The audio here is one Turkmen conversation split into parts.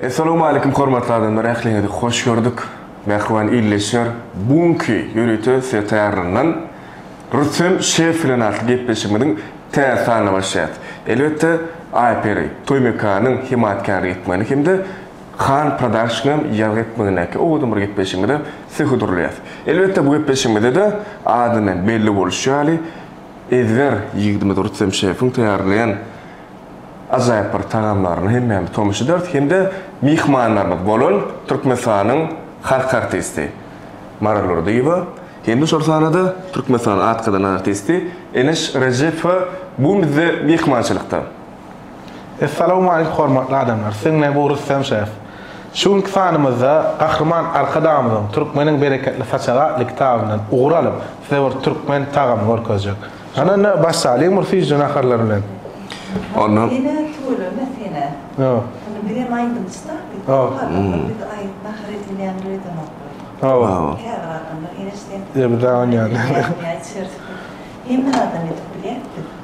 Essalamu aleýkum hormatly adamlar ähliňizi hoş gördük. Mähriban illeşer bu günki ýörite size taýýarlanan Rüstem şef bilen atly gepleşigimiziň täze sanyna başlaýar. Elbetde Aýperi toý mekanynyň hemaýatkärlik etmegini hem-de Han Production-am ýazgy etmegindäki owadan bir gepleşigimize sizi hödürleýär. Elbetde bu gepleşigimizde-de adyndan belli bolşy ýaly Ezber ýigidimiz Rüstem şefiň taýýarlaýan ajaýyp bir tagamlaryna hemmämiz tomaşa ederis hem-de myhmanlarymyz bolan Türkmenistanyň halk artisti Maral Durdyýewa hem-de şol sanda-da Türkmenistanyň at gazanan artisti Eneş Rejepowa bu gün bizde myhmançylykda. Essalamu aleyk hormatly adamlar siziň bilen bu Rüstem şef. Şu günki sanymyzda Gahryman Arkadagymyzyň Türkmeniň bereketli saçagy atly kitabyndan ugur alyp size bir türkmen tagamy görkezjek. Hany indi başlalyň bir süýji naharlar bilen. Onda Diňe tüweleme senä. Hawa. Hany biz hem aýdymçyda biz Hawa. Biz aýdyp nahar edilýän bir edenok. Hawa. Käbir adamlar ýene şeýdip. Ýa bir dagy ýaly. Hemme adam edip bilýär.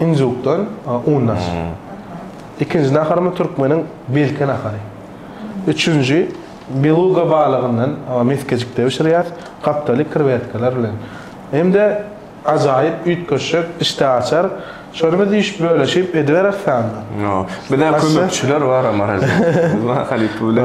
Injukdan undaş. Ikinji naharymy türkmeniň belki nahary. Üçünji beluga balygyndan mesgejikde bişirýäs, gapdaly krewetkalar bilen. Hem-de ajaýyp üýtgeşik, işdä açar. Şony biz iş bölüşip ediberis sanda. Ýok. Bizä kömekçiler bar Amaral. Biz mahalyp bilen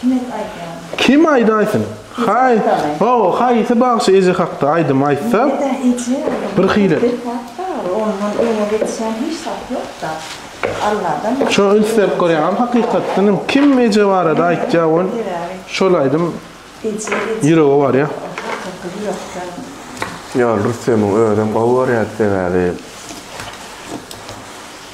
Kime aýdýaň? Kim aýdaýsyn? Haý, hawa, haýsy bagşy eje hakda aýdym aýtsa, bir hili. Ondan öňe geçýän hiç zat ýok-da. Alladan başga. Şo üns berip görýäňem hakykatdan hem kim eje barada aýtýa ol şol aýdym ýürege barýa. Hakyky ýürekden. Ýol Rüstemiň özem gowy görýädi sebäbi.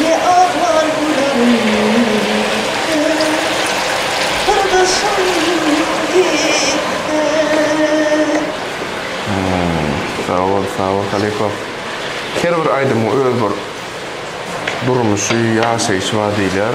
Ne aglar gülermende syrdaşym gitse. Sag bol sag bol halypa. Her bir aýdymyň öz bir durmuşy, ýaşaýşy bar diýilýär.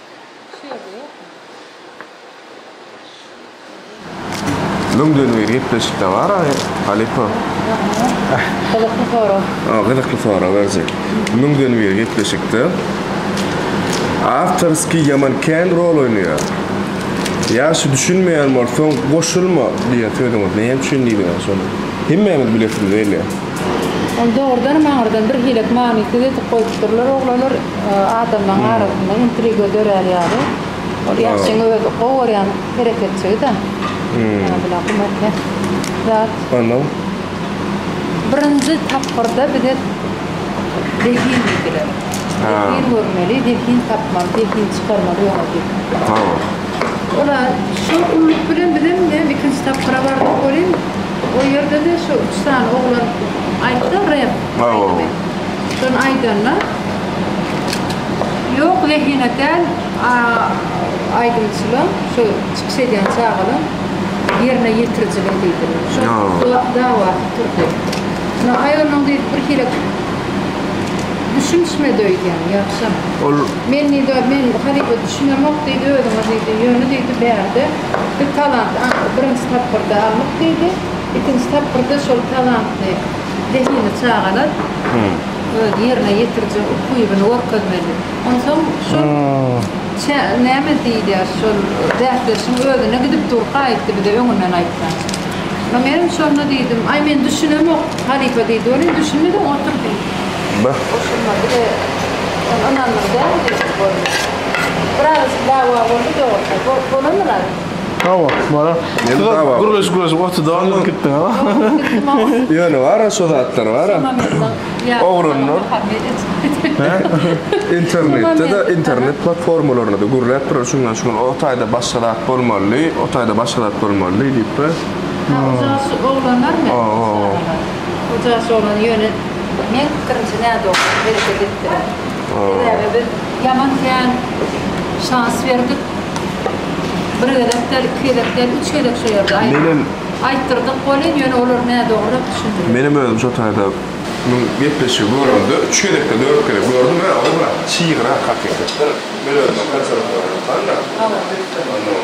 Şu ýerde ýokmy? Müňden bir gepleşikde bar aý halypa. Gyzykly sorag. A gyzykly sorag berje. Müňden bir gepleşikde awtorskiý ýaman kän rol oýnaýar. Ýa şu düşünmeýän bolsaň goşulma diýen sözüňiz näme üçin diýdiňiz şony? Hemmämiz bilesimiz gelýär. Ony dogrudanam aňyrdan birhilek manysyz edip goýupdyrlar oglanlar, adamlaň arasynda intriga dörär ýaly. Ol Ýahşyň özi gowy görýän hereketçigi-dä. Abyla gumake zat. Onnoň? Birinji tapgyrda bize zehin diýdiler. Zehin görmeli, zehin tapmaly, zehin çykarmaly ýola diýip. Olar şol umyt bilen bizem näme ikinji tapgyra bardyk welin, O ýerde-de şu üç sany oglan aýtdy rep aýdymy. Şony aýdanda ýok zehine däl aýdymçylaň, şu çykyş edýän çagalaň ýerine ýetirijiligi diýdi. Şol dawasy turdy. Ýa aý onuň diýdi birhili düşünişmedi öýdýän ýagşam. Men diýdi, men halypa düşünemok diýdi özüňe diýdi. Ýöne diýdi bärde. Bir talant atly birinji tapgyrda alnyp diýdi. Ikinji tapgyrda şol talantly zehinli çagalar öz ýerine ýetirjek ukybyny görkezmeli. Onsoň şol çä näme diýilýär şol bäsleşigiň özüne gidip durka aýtdy bize öňünden aýtsa. Menem şonda diýdim, Aý men düşünemok halypa diýdi. Welin düşünmedin otur diýdi. Beh. Goşulma bile sen ynandyň dälmi diýjek boldy. Biraz dawa boldy dogrusyna. Bolup bolanmy Razyk? Hawa, bolar. Siz gürleşip gürleşip oturdyňyz unup gitdiňiz. Ýöne bara şo zatlar bara. Ogranlar. Internetde-de internet platformalarynda-da gürläp durar şundan şu gün o taýda başga zat bolmaly, o taýda başga zat bolmaly diýip be. Hawa, oglanlarmy? Hawa. Bu jaş oglany ýöne meň pikirimçe nädogry hereket etdiler. Sebäbi biz ýaman kän şans berdik. Bir gezek däl, iki gezek däl, üç gezek şu ýerde aýtdyrdyk welin, ýöne olar nädogry düşündiler. Menem özüm şo taýda munuň gepleşigi göremde, üç gezekde, dört gezek gördüm, hä, ol bir çygyrak hakykatdan. Men özüm konsertde oýnapkandyryn. Hawa. Onnoň.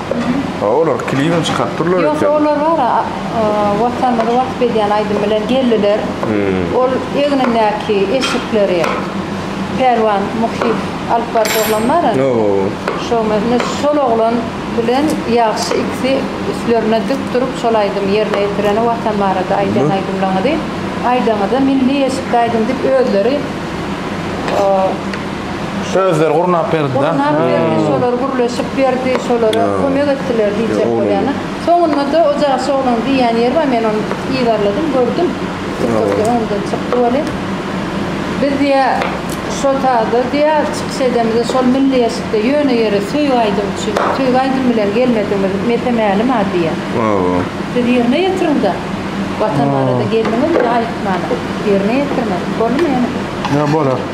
Ha, olar klibini çykaryp durlar Ýogsa eken. olar bar, a- a, Watanymyzy wasp edýän aýdym bilen geldiler. Ol egnindäki eşikleri Pälwan Muhyýew alyp baryp oglan bar indi. Hawa. Şo me- ne şol oglan bilen Ýagşy ikisi üstlerine dik durup şol aýdymy ýerine ýetireni Watan barada aýdýan Bu- aýdymlaňyzy aýdaňyza milli eşikde aýdyň diýip özleri o Özleri gurnap berdi da. Gurnap berdi, şolar gürleşip berdi, şolara kömek etdiler diýjek bolýan-a. Soňunda-da o jagşy oglanyň diýýän ýeri bar, men ony yzarladym, gördüm. Tiktokda öňden çykdy welin, Biz diýýär, şo sazda diýýär, çykyş edemizde şol milli eşikde ýöne ýere söýgi aýdym üçin, söýgi aýdym bilen gelmedigiňiz mese mälim-a diýýär. Siz ýerine ýetiriň-de, Watan barada geldiňizmi, aýtman, ýerine ýetiriň. Boldumy ýene? Ýa bolar.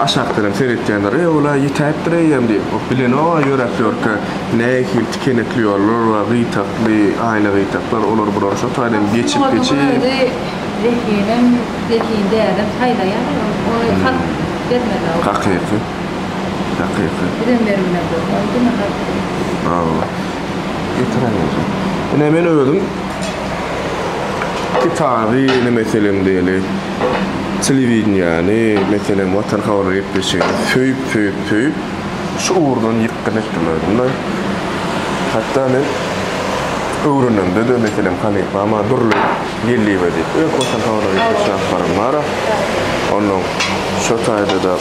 Aşakdanam seretýänler, Eý, ol-a ýitäýipdir eýýäm diýip, o bilenok-a ýöräp ýörkä, nähili tikenekli ýollar we gytakly, aýna gytaklar, olar-bular şo taýdan geçip, geçip. Munuň özi zehinem, zehin dälem saýlaýar ol, ony halk bermez-ä ol. Hakyky, hakyky. Bizem berilmezok, ony diňe halk berer. Hawa. Getiräý özüm. Ine, men özüm kitaby, ine, meselem diýeli. Telewideniýäni, meselem, Watan habar gepleşigini söýüp, söýüp, söýüp, şu ugurdan ýykgyn etdim özüm-de. Hatda men öwrenemde-de, meselem, halypa maňa Durly Geldiýewa diýip, öň Watan habarlar gepleşigini alyp baran bar-a. Onnoň şo taýda-da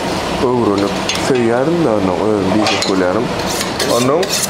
öwrenip, söýýädim-de, onnoň özüni diýjek bolýaryn. Onnoň.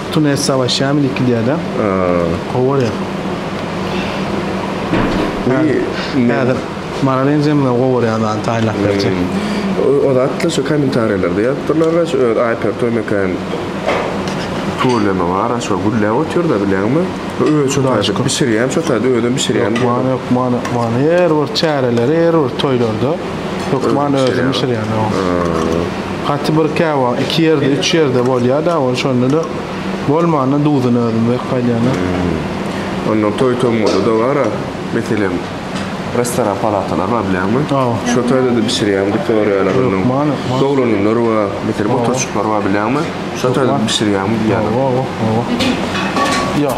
Tune savaşýa mini gidýärde. Gowarýar. Häzir Maral enjemine gowarýan zady taýlap berjek. O zatda şu kommentariýalarda ýazypdyrlar gaş öz Aýper Toýmekän problemi bar aşo gülläp otyrda bileňmi. Özi şo taýda bişirýän şo taýda özem bişirýän. Ýok many ýok many many her bir çäreleri her bir toýlarda. Hökman özüm bişirýän. Haty bir käwa iki ýerde, üç ýerde bolýar da, ol şonda da bolmanda duzuny özüm berip gaýdýan. Onda toý tomguda da bar, meselem, restoran palatalar bar bilenmi? Şo toýda da bişirýän bu töreýalar. Hökman. Doglanlar we meselem oturşyklar bar bilenmi? Şo toýda bişirýän diýýän. Ýok.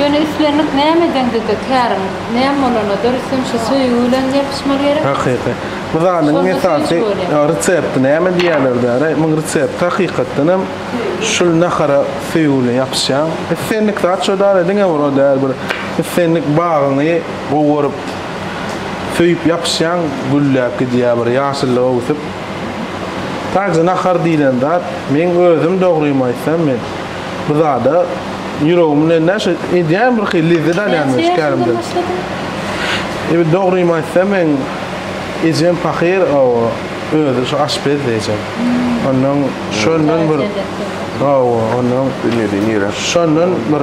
Ýöne islendik nämedeňde-de käriň näme bolanda-da rüstem şu söýgi bilen ýapyşmaly gerek. Hakyky. Bu zadyň esasy resepti näme diýýärler däri? Muň resepti hakykatdan hem şul nahara söýgi bilen ýapyşýaň. Islendik zat şo däli diňe bir o däl bir islendik bagyňy gowy görüp Söýüp ýapyşýaň gülläp gidýär bir ýaşyllyk öwsüp. Taýja nahar diýlen zat meň özüm dogrymy aýtsam men bu zada ýüregim bilen näşe edýän bir hili lezzet alýan men şu kärimden. Ebi dogrymy aýtsam meň ejem pahyr owo özi şu aşpezdi ejem. Ondan şondan bir owo ondan dünýede nirä şondan bir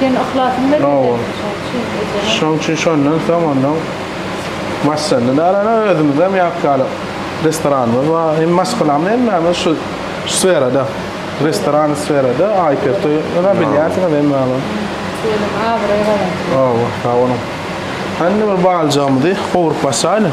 Sen yhlasyn bilen edýäň. Şoň üçin şondan soň onnoň başlandy. Dara özümizem ýapýaly restoranymyz bar. Hem maşgalamyz hemmämiz şu sferada, restoran sferada, Aýpertoý ýa bilýärsiňiz hemmäňiz. Diýelim abraý gazandy. Hawa, sag boluň. Hany bir baljygymyzy gowrup başlaýlyň.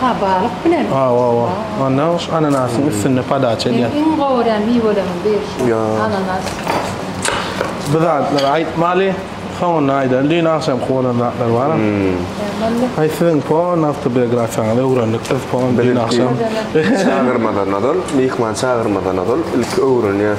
Ha, balyk bilen. Ha, wa, wa. Onda ananasyň üstünde podaça edýär. Iň gowy görýän miweleriň biri şu ananas. Bu zatlary aýtmaly, soňunda aýdaryn. Düýn agşamky bolan zatlar bar. Aý, siziň pon awtobiografiýaňyzy öwrendik biz pon düýn agşam. Çagyrmadan ozal, myhman çagyrmadan ozal ilki öwrenýär.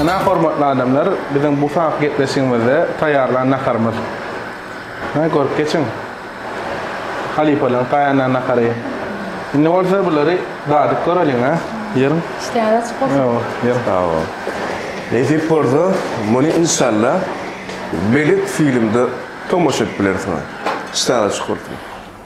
Ynha hormatly adamlar biziň bu saat gepleşigimizde taýýarlan naharymyz. Ynha görüp geçiň. Halypalaň taýýarlan nahary. Indi bolsa bulary dadyp göreliň ha. Ýeriň. Işdäňiz açyk bolsun. Ýo, ýer. Sag bol. Nesip bolsa muny inşallah belet filmde tomaşa edip bilersiňiz. Işdäňiz açyk bolsun.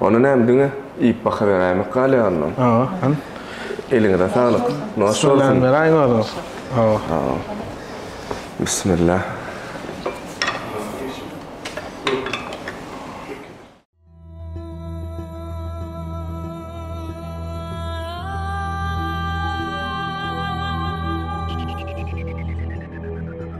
Ony näme diňe iýip bakaberäýmek galýa ondan. Hawa, han. Eliňize saglyk. Noş bolsun. Salam beräýiň özüňiz. Hawa. Hawa. Bismillah.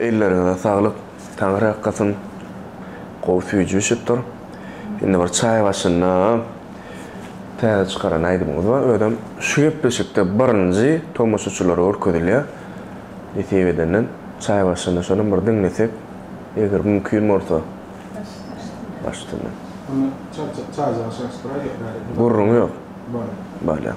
Elleriňize saglyk Taňry akgasyn gowy süýjüşipdir indi bir çaý başynda täze çykaran aýdymyňyz bar özem şu gepleşikde birinji tomaşaçylara görkezilýär nesip edenden çaý başynda şonam bir diňlesek eger mümkin bolsa baş üstünden. Onda çaý çaýjyga çalyşdyraýda bäri. Gürrüňi ýok. Bolýar. Bolýar.